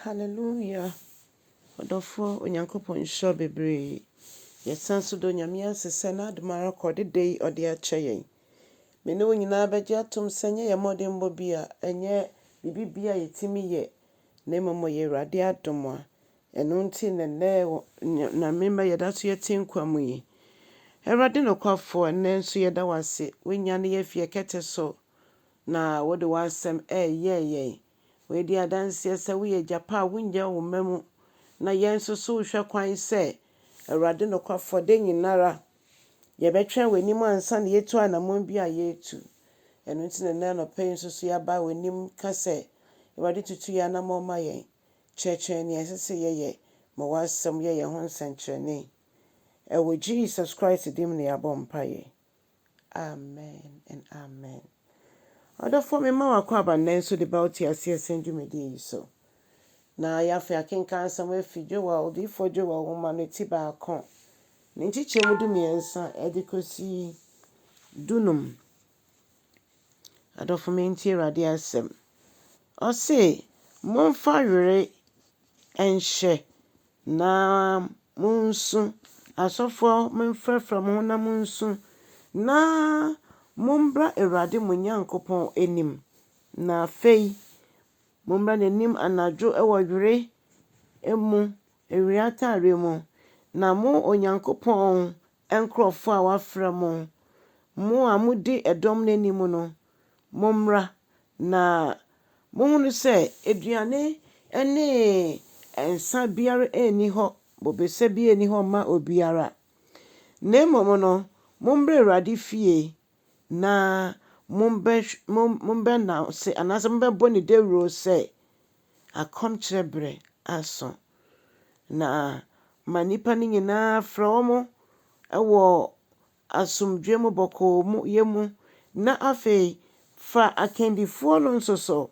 Hallelujah! Ɔdɔfoɔ, Onyankopɔn nhyira wo bebree. Yɛsan nso da Onyame ase sɛ n'adom ara kwa ɔde da yi ɔde akyɛ yɛn. Me ne wo nyinaa bɛgye atom sɛ ɛnyɛ yɛn mmɔdenbɔ bi a, ɛnyɛ biribi bi a yɛtumi yɛ, na mmom ɛyɛ Awurade adom a ɛno nti na nnɛ wɔ Onyame mma yɛda so yɛte nkwa mu yi. Awurade nokwafoɔ, nnɛ nso yɛda wo ase, woanyane yɛn afi yɛn kɛtɛ so na wode w'asɛm ɛreyɛn yɛn. Wei di adanseɛ sɛ woyɛ gya pa a wonnya wo mma mu. Na yɛn nso so wohwɛ kwan sɛ, Awurade nokwafoɔ, da nyinara yɛbɛtwɛn w'anim ansa na yɛatu anamɔn bi a yɛretu. Ɛno nti na nnɛ anɔpa yi nso so yɛaba w'anim ka sɛ, Awurade tutu yɛn anamɔn ma yɛn, kyerɛkyerɛ yɛn nea ɛsɛ sɛ yɛyɛ, ma w'asɛm yɛ yɛn ho nsɛnkyerɛnne. Ɛwɔ Jesus Christ din mu na yɛabɔ mpaeɛ. Amen and amen Ɔdɔfoɔ me ma w'akwaaba nnɛ nso de ba wo te aseɛ sɛn dwumadie yi so. Na yɛ afei akenkan asɛm afi Joel, odiyifoɔ Joel nwoma no ti baako, ne nkyekyɛ mu du mmiɛnsa ɛde kɔsi du num. Adɔfo me ntie Awurade asɛm. Ɔse, Momfa were nhyɛ Na munsu, asɔfoɔ monfrafra mo ho na monsu, na mombra Awurade mo Nyankopɔn anim. Na afei mombra n'anim anadwo wɔ were mu, awia ataareɛ mu, na mo Onyankopɔn Nkurɔfoɔ a wɔafrɛ mo, mo a modi ɛdɔm no anim no, mommra, na monhunu sɛ aduane ne nsã biara nni hɔ, bobesa biara nni hɔ mma obiara. Na mmom no, mommra Awurade fie na mommɛnante, anaasɛ mommɛbɔ no dawuro sɛ akɔmkyerɛ berɛ aso, na ma nnipa no nyina ara frɛ wɔn wɔ asomdwoeɛ mu bɔkɔɔyɛ mu, na afei fa akandifoɔ no nso so,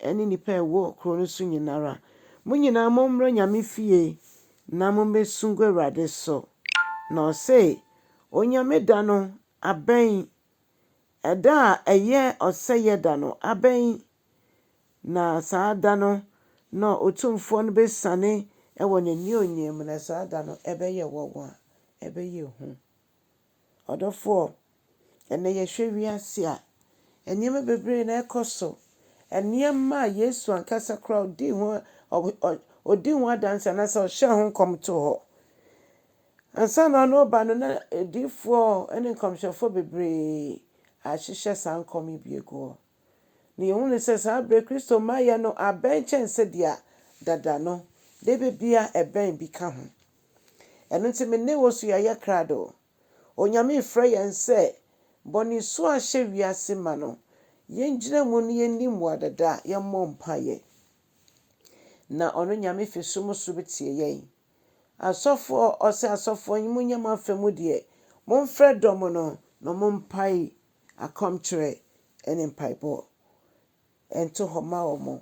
ne nnipa a ɛwɔ kuro no so nyina ara. Mo nyina ara mommra Nyame fie na mommɛsu ngu Awurade so. Na ɔse, Onyame da no abɛn, ɛda a ɛyɛ ɔsɛeɛ da no abɛn. Na saa da no na Otumfoɔ no bɛsiane wɔ n'aniuonyam mu, na saa da no ɛbɛyɛ wɔnwa, ɛbɛyɛ hu. Ɔdɔfoɔ, ɛnnɛ yɛhwɛ wiase a, nneɛma bebree na ɛrekɔ so, nneɛma a Yesu ankasa koraa ɔdii ho, ɔdii ho adanse anaasɛ ɔhyɛɛ ho nkɔm too hɔ. Ansa na ɔno reba no, na adiyifoɔ ne nkɔmhyɛfoɔ bebree ahyehyɛ saa nkɔm yi bi agu hɔ. Na yehu no sɛ saa bere Kristo mmaeɛ no abɛn kyɛn sɛdeɛ dada no de bebia ɛbɛn bi ka ho. Ɛno nti me ne wo so yɛayɛ krado. Onyame refrɛ yɛn sɛ bɔne su a ahyɛ wiase ma no yɛngyina mu na yɛnni mmuadada, yɛmmɔ mpaeɛ na ɔno Nyame fi soro mu so bɛtie yɛn. Asɔfoɔ, ɔse asɔfoɔ yi monyɛ mo afa mu deɛ, momfrɛ dɔm no na ɔmo mpae akɔmkyerɛ ne mpaebɔ nto hɔ ma wɔn.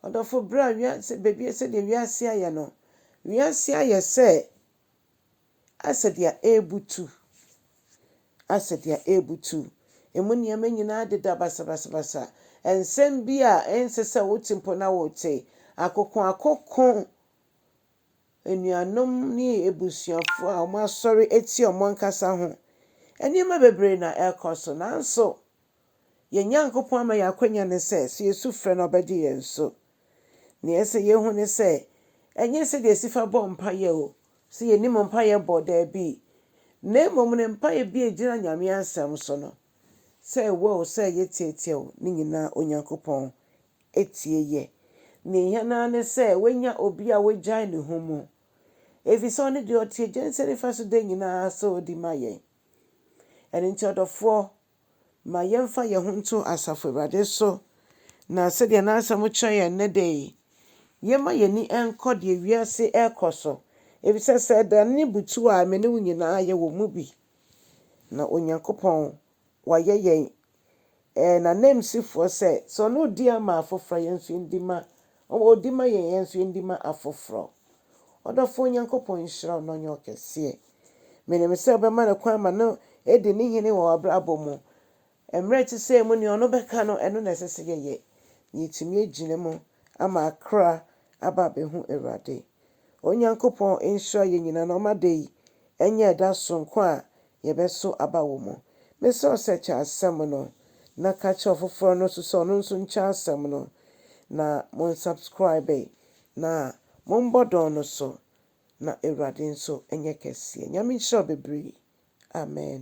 Ɔdɔfo, bere a wiase, baabi a sɛdeɛ wiase ayɛ no, wiase ayɛ sɛ asɛ deɛ ɛrebutu, asɛ deɛ ɛrebutu. Emu nneɛma nyinaa deda basabasabasa. Nsɛm bi a ɛnsɛ sɛ wote mpo na worete. Akokoakoko anuanom ne abusuafo a wɔasɔre atia wɔn ankasa ho. Nneɛma bebree na ɛrekɔ so, nanso yɛn Nyankopɔn ama yɛn akwanya ne sɛ, sɛ yesu frɛ no a, ɔbɛgye yɛn so. Nea ɛsɛ sɛ yehu ne sɛ, ɛnyɛ sɛnea yesi fa bɔ mpae o, sɛ yenim mpae bɔ, dabi, na mmom ne mpae bi a egyina Nyame Asɛm so no, sɛ ɛwɔ o, sɛ eye tiatia o, ne nyinaa Onyankopɔn atie yɛ. Nea ehia no ara ne sɛ woanya obi a wagyae ne ho mu, efisɛ ɔno de, ɔte Agya nsa nifa so da nyinaa sɛ odi ma yɛn. Ɛno nti, ɔdɔfoɔ, ma yɛmfa yɛn ho nto asafo Awurade so, na sɛdeɛ N'asɛm kyerɛ yɛn nnɛ da yi, yɛmma yɛn ani nkɔ deɛ wiase rekɔ so, efisɛ sɛ ɛda no butu a, me ne wo nyinaa yɛwɔ mu bi, na Onyankopɔn wayɛ yɛn eh, n'ananmusifoɔ sɛ, sɛ ɔno ɔdi ama afoforɔ a, yɛn nso yɛndi ma, ɔwɔ ɔdi ma yɛn, yɛn nso yɛndi ma afoforɔ. Ɔdɔfoɔ Nyankopɔn nhyira wo na ɔnyɛ wo kɛseɛ. Menim sɛ wobɛma no kwan ma no adi ne hene wɔ w'abrabɔ mu. Mmerɛ ɛte sɛ mu nea ɔno bɛka no, ɛno na ɛsɛ sɛ yɛyɛ na yɛtumi agyina mu ama akra aba abɛhu Awurade. Onyankopɔn nhyira yɛn nyinaa na ɔma da yi ɛnyɛ ɛda sononko a yɛbɛso aba wɔ mu. Mesrɛ wo sɛ kyɛ asɛm no na ka kyerɛ ɔfoforɔ no nso sɛ ɔno nso nkyɛ asɛm no na monsubscribe na mommɔ dɔn no so na Awurade nso nyɛ kɛseɛ. Nyame nhyira wo bebree. Amen.